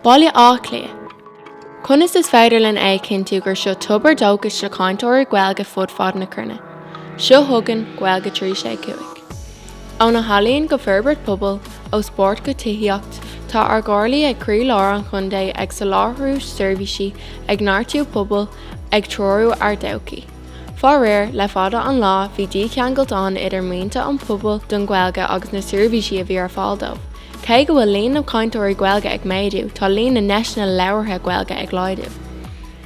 Baile Átha Cliath. Conas is féidir linn é a chinntiú gur seo tobar dóchais do chainteoirí Gaeilge fud fad na cruinne? Seo chugainn Gaeilge 365. Ó na healaíon go forbairt pobail, ó spórt go tithíocht, tá ár gcomhairlí ag croí lár an chontae ag soláthriú seirbhísí, ag neartú pobail, ag treorú ár dtodhchaí. Faraor, le fada an lá bhí dícheangailt ann idir mianta an phobail don Ghaeilge agus na seirbhísí a bhí ar fáil dóibh. Cé go bhfuil líon na cainteoirí Gaeilge ag méadú, tá líon na ndeiseanna labhartha Gaeilge ag laghdú.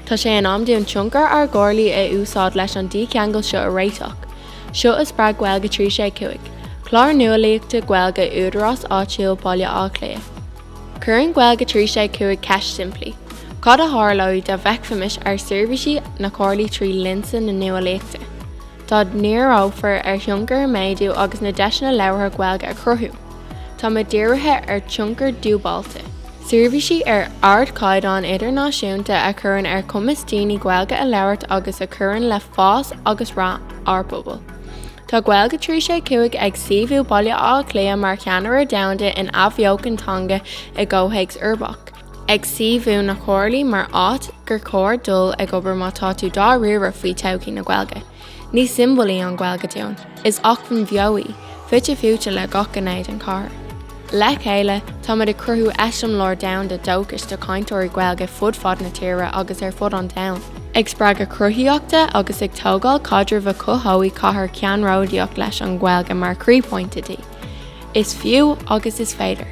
Tá sé in am dúinn tionchar ár gcomhairlí a úsáid leis an dícheangal seo a réiteach. Seo a spreag Gaeilge 365, clár nuálaíochta Gaeilge Údarás Áitiúil Bhaile Átha Cliath. Cuireann Gaeilge 365 ceist simplí, Cad a tharlódh dá bhfeicfimis ár seirbhísí na comhairlí trí lionsa na nuálaíochta? Dá ndíreofar ar thionchar a méadú agus na deiseanna labhartha Gaeilge a chruthú? Tá muid dírithe ar tionchar dúbáilte. Seirbhísí ar ardchaighdeán idirnáisiúnta a chuireann ar chumas daoine Gaeilge a labhairt agus a chuireann le fás agus rath ár bpobail. Tá Gaeilge 3 6 5 ag suíomhú Baile Átha Cliath mar cheannaire domhanda in athbheochan teanga i gcomhthéacs uirbeach, ag suíomhú na comhairlí mar áit gur chóir dul ag obair má tá tú dáiríre faoi todhchaí na Gaeilge. Ní siombail í an Ghaeilge dúinn, is acmhainn bheo í, fite fuaite le gach gné den chathair. Le chéile, táimid ag cruthú eiseamláir domhanda dóchais do chainteoirí Gaeilge fud fad na tíre agus ar fud an domhain, ag spreagadh cruthaíochta agus ag tógáil caidrimh a chothódh cathair ceannródaíoch leis an nGaeilge mar chroíphointe di. Is fiú agus is féidir.